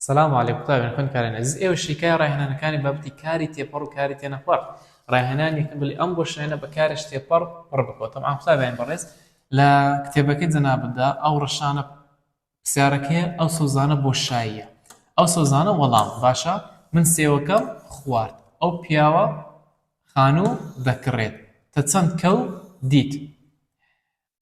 سلام و علیک قوتابیان خوێندکارانی ئەزیز ئێوە شیکای ڕاهێنانەکانی بابەتی کاری تێپەڕ و کاری تێنەپەڕ ڕاهێنانی یەکەم بلی ئەم بۆ شوێنە بە کارش تێپەڕ پڕ بکەوە تەبعەن قوتابیانی بەڕێز لە کتێبەکەی جەنابتدا ئەو ڕەشانە پرسیارەکەی ئەو سەوزانە بۆ شاییە ئەو سەوزانە وەڵام باشە من سێوەکەم خوارد ئەو پیاوە خانوو دەکڕێت تە چەند کەو دیت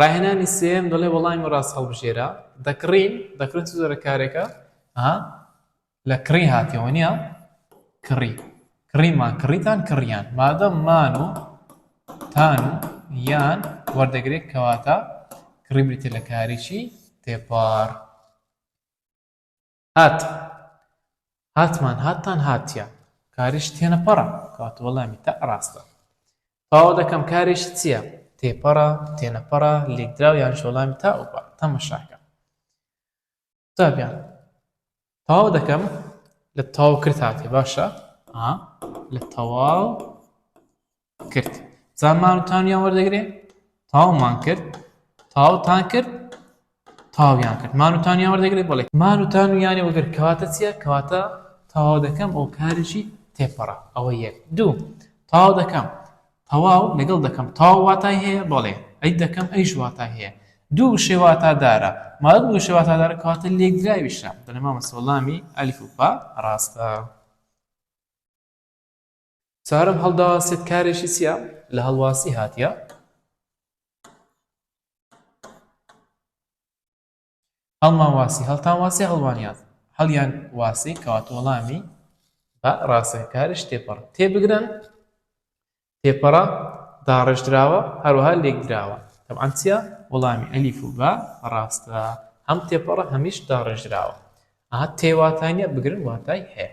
ڕاهێنانی سێیەم دەڵێ وەڵامی ڕاست هەڵبژێرە دەکڕین دەکڕین چ جۆرە کارێکە ها لە کڕی هاتیەوە نیە کڕی کڕیمان کڕیتان کڕیان مادەم مان و تان و یان وەردەگرێت کەواتە کڕی بریتە لە کارێکی تێپار هات هاتمان هاتتان هاتیە کاریش تێنەپەڕە کەواتە وەڵامی تە ڕاستە پاوە دەکەم کاریش چییە تێپەڕە تێنەپەڕە لێکدراو یان شۆڵامی تا ئەوپە تەمەشاکە قوتابیان تاو دەکەم لە تاو کرد هاتێ باشە لە تەواو کرد جا مار و تانیان وەردەگرێ تاومان کرد تاوتان کرد تاویان کرد مار و تانیان وەردەگرێت بڵێ مار و تان و یانێ وەگر کەواتە چییە کەواتە تاوا دەکەم ئەو کارێکی تێپەڕە ئەوە یەک دوو تاوا دەکەم تەواو لەگەڵ دەکەم تاو واتای هەیە بەڵێ ئەی دەکەم ئەیش واتای هەیە دوو شێواتادارە مادە دوو شێواتادارە کاتە لێکدراویشە دەنەما مەسەڵامی ئەلیف و پا ڕاستە چوارەم هەڵداواسێت کارێکی چیە لە هەڵواسی هاتیە هەڵمان واسی هەڵتان واسی هەڵوانیان هەڵیان واسی کەواتە وەڵامی بە ڕاستەکارش تێپەڕ تێبگرن تێپەڕە داڕێژدراوە هەروەها لێکدراوە تەبعەن چیە وەڵامی ئەلیف و بە ڕاستە هەم تێپەڕە هەمیش داڕێژدراوە ئا تێواتانە بگرن واتای هەیە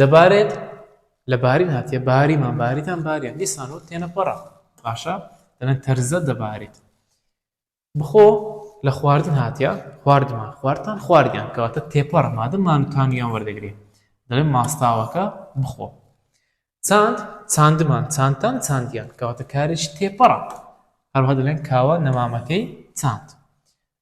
دەبارێت لە بارین هاتیە باریمان باریتان باریان دیسانەوە تێنەپەڕە باشە دەڵێن تەرزە دەبارێت بخۆ لە خواردن هاتیە خواردمان خواردتان خواردیان کەواتە تێپەڕە مادە مانوتانیان وەردەگرێت دەڵێن ماستاوەکە بخۆ چاند چاندمان چاندتان چاندیان کەواتە کارێکی تێپەڕە هەروها دەڵێن کاوە نەمامەکەی چاند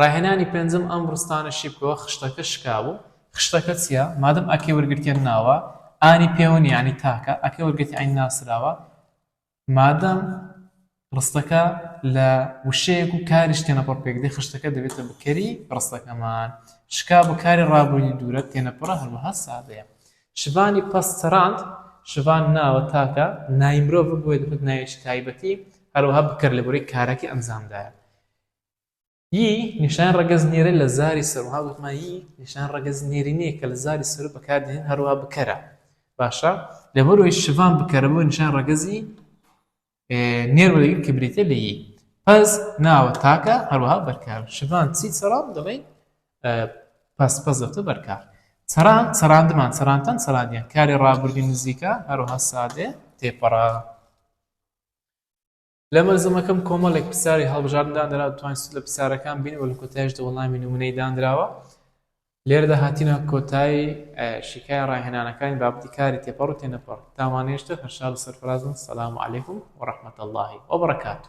ڕاهێنانی پێنجم ئەم ڕستانە شیبکەوە خشتەکە شکابوو. خشتەکە چیە؟ مادەم ئەکەی وەرگرتیە ناوە، ئانی پێوەنی یانی تاکە، ئەکەی وەرگرتی عەین ناسراوە، مادەم ڕستەکە لە وشەیەک و کاریش تێنەپەڕ پێکدێ خشتەکە دەبێتە بکەری ڕستەکەمان. شکابوو کاری ڕابووردی دوورە تێنەپەڕە هەروەها سادەیە. شڤانی پەست چراند، شڤان ناوە تاکە، ناوی مرۆڤە بۆیە دەبێتە ناوێکی تایبەتی، هەروەها بکەر لەبورەی کارەکەی ئەنجامدایە. ی نیشان ڕەگەز نێرە لە زاری سەرو ها وتمان ی نیشان ڕەگەز نێرینەیە کە لە زاری سەرو بەکار دێنین هەروەها بکەرە باشە لەبەرەوەی شڤان بکەرە بۆ نیشان ڕەگەزی نێر وەرەگیر کە بریتە لە ی پەس ناوە تاکە هەروەها بەرکار شڤان چی سەرام دەڵێ پس پس دەفتە بەرکار سەران سەراندمان سەرانتەن سەرانیان کاری ڕابردی نزیکە هەروها سادێ تێپەڕە لە مەلزەمەکەم کۆمەڵێک پرسیاری هەڵبژاردن دانراوە توانین سود لە پرسیارەکان ببینین و لە کۆتاییشدا وەڵامی نموونەیی دانراوە لێرەدا هاتینە کۆتایی شیکای ڕاهێنانەکانی بابەتی کاری تێپەڕ و تێنەپەڕ تاوانێشتر هەرشاد و سەرفرازن سەلام علیکم و ڕەحمەت اللهی وبرکاته